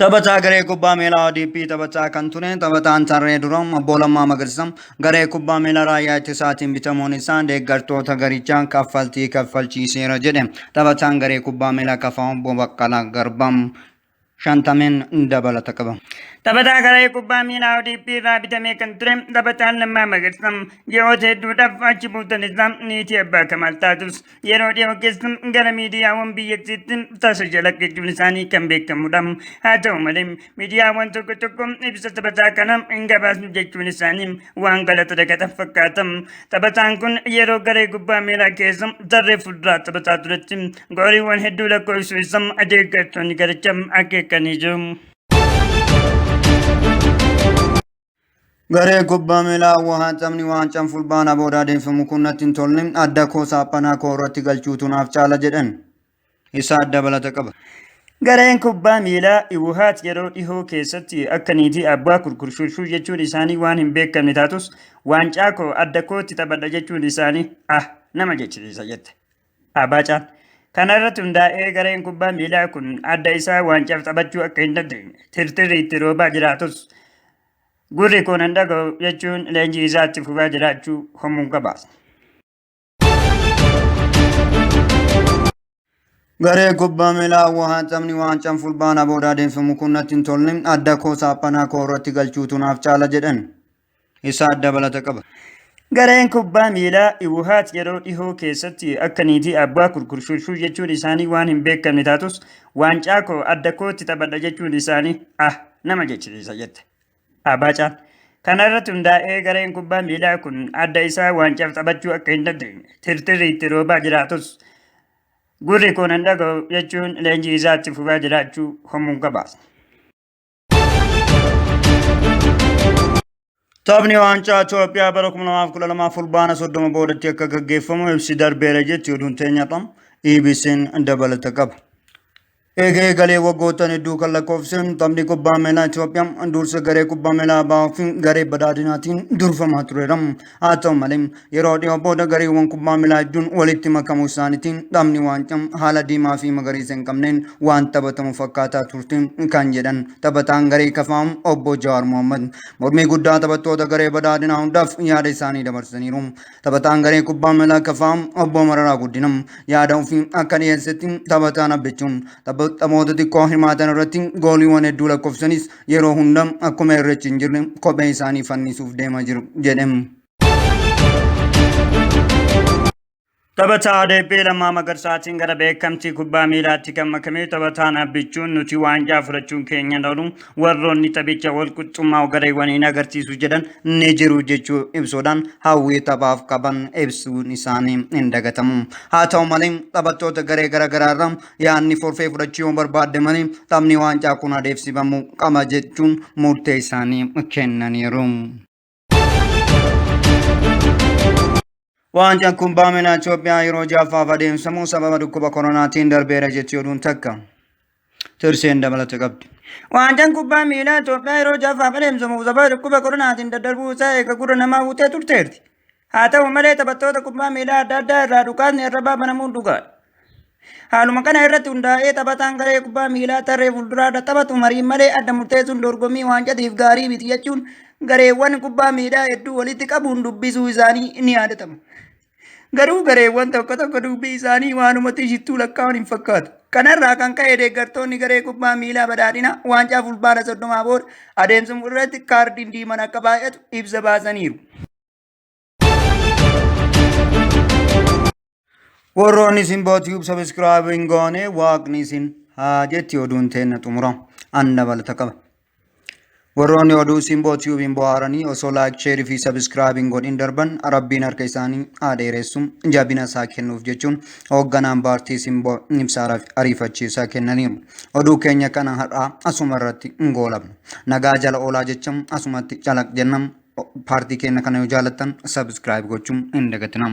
Taphataa garee kubbaa miilaa ODP taphataa kan ture taphataan tarree duraa obbo Lammaa Magarsaa garee kubbaa miilaa raayyaa ittisaatiin bitamuun isaa deeggartoota garichaa kaffaltii kaffalchiiseera jedhe taphataan garee kubbaa miilaa kafaa obbo Baqqalaa Garbaa. shantameen dabalata qaba. Taphataa garee kubbaa miilaa ODP irraa bitamee kan ture taphataan Lammaa Magarsaa ji'oota hedduudhaaf achi buutan isaa niitii abbaa Kamaal taatus yeroo dhiyoo keessa gara miidiyaawwan biyyattiitti tasa jala jechuun isaanii kan beekamudha. Haa ta'u malee miidiyaawwan tokko tokko ibsa taphataa kana hin gabaasnu jechuun isaanii waan galata dagatan fakkaata. Taphataan kun yeroo garee kubbaa miilaa keessa tarree fuulduraa taphataa turetti gooliiwwan hedduu lakkoofsuu isaa adeeggartoonni garichaa akeekanii jiru. Garee kubbaa miilaa Wuhaan taphni waancaan fulbaana booda adeemsifamu kun natti hin tolle adda koo saaphanaa koo irratti galchuutu naaf caala jedhan. isaa dabalata qaba. Gareen kubbaa miilaa Iwuhaat yeroo dhihoo keessatti akka niitii abbaa kurkurshurshuu jechuun isaanii waan hin beekamne taatus waancaa koo adda kootti taphadha jechuun isaanii ah nama jechisiisa jette. Abaacaan kana irratti hundaa'ee gareen kubbaa miilaa kun adda isaa waancaaf taphachuu akka hin dandeenye tirtirri itti roobaa jiraatus gurri koo nan dhaga'u jechuun leenjii isaatti fufaa jiraachuu homuun gabaasa. Garee kubbaa miilaa Hawwaa taphni waancaan fulbaana booda adeemsifamu kun natti hin tolle adda koo saaphanaa koo irratti galchuutu naaf caala jedhan isaa dabalata qaba. Gareen kubbaa miilaa Iwuhaat yeroo dhihoo keessatti akka niitii abbaa kurkurshurshuu jechuun isaanii waan hin beekamne taatus waancaa koo adda kootti taphadha jechuun isaanii ah nama jechisiisa jette. Abacha. Kana irratti hundaa'ee gareen kubbaa miilaa kun adda isaa waancaaf taphachuu akka hin dandeenye tirtirri itti roobaa jiraatus gurri koon hin dhaga'u jechuun leenjii isaatti fufaa jiraachuu homuun gabaasa. Taphni waancaa Itoophiyaa bara 2012 fulbaana 30 boodatti akka gaggeeffamu ibsi darbeera jetti oduun teenya qabna. EBC'n dabalata qaba. Eega eegalee waggoottan hedduu kan lakkoofse taphni kubbaa miilaa Itoophiyaa dursa garee kubbaa miilaa Abaa fi garee badhaadhinaatiin durfamaa tureera. Haa ta'u malee yeroo dhiyoo booda gareewwan kubbaa miilaa hedduun walitti makamuu isaaniitiin taphni waancaa haala diimaa fi magariisa hin qabneen waan taphatamu fakkaataa turte kan jedhan taphataan garee kafaa obbo Jawaar Mohammad mormii guddaa taphattoota garee badhaadhinaa hundaaf yaada isaanii dabarsaniiru. Taphataan garee kubbaa miilaa kafaa obbo Mararaa Guddina yaada ofii akka dhiyeessetti taphataan abbichuun taphoota xiqqoo hirmaatan irratti gooliiwwan hedduu lakkoofsanis yeroo hunda akkuma irreechi hin jirre kophee isaanii fannisuuf deema jiru jedhe. Taphataa Adeebbee Lammaa Magarsaatiin gara beekamtii kubbaa miilaatti kan makame taphataan abbichuun nuti waancaa fudhachuun keenya hin oolu Warroonni taphicha walqixxummaa gareewwan hin agarsiisu jedhan ni jiru jechuu ibsuudhaan hawwii taphaaf qaban ibsuun isaanii hin dagatamu. Haa ta'u malee taphattoota garee garaagaraa irraa yaadni forfee fudhachuu yoo barbaadde malee taphni waancaa kun adeemsifamuu qaba jechuun murtee isaanii kennaniiru. Waancaan kubbaa miilaa Itoophiyaa yeroo ja'affaaf adeemsifamu sababa dhukkuba koronaatiin darbeera jetti oduun takka. Tirseen dabalata qabdi. Waancaan kubbaa miilaa Itoophiyaa yeroo ja'affaaf adeemsifamu sababa dhukkuba koronaatiin daddarbuu isaa eega gurra namaa buutee turteerti. Haa ta'u malee taphattoota kubbaa miilaa adda addaa irraa dhukaasni arrabaa banamuun dhugaadha. Haaluma kana irratti hundaa'ee taphataan garee kubbaa miilaa tarree fuulduraarra taphatu mariin malee adda murteessuun dorgommii waancatiif gaarii miti jechuun gareewwan kubbaa miilaa hedduu walitti qabuun dubbisuu isaanii ni yaadatama. Garuu gareewwan tokko tokko dubbii isaanii waanumatti shittuu lakkaa'uun hin fakkaatu. Kanarraa kan ka'e deeggartoonni garee kubbaa miilaa badhaadhina waancaa fulbaana soddomaa booda adeemsimu irratti kaardiin diiman akka baay'atu ibsa baasaniiru. Warroonni isin bootiif sabiskiraayib hin goone waaqni isin haa jetti oduun teenna xumura an dabalata qaba. Warroonni oduu isin bootiif hin bohaaranii osoo laayik sheerii fi sabiskiraayib hin godhin darban rabbiin harka isaanii haa dheeressu jabina isaa kennuuf jechuun hoogganaan paartii isin boo ibsaa ariifachiisaa kennaniiru. Oduu keenya kana har'aa asuma irratti hin goolabna. Nagaa jala oolaa jecha asumatti calaq jenna. Paartii keenya kana yoo jaalattan subscribe gochuun hin dagatinaa.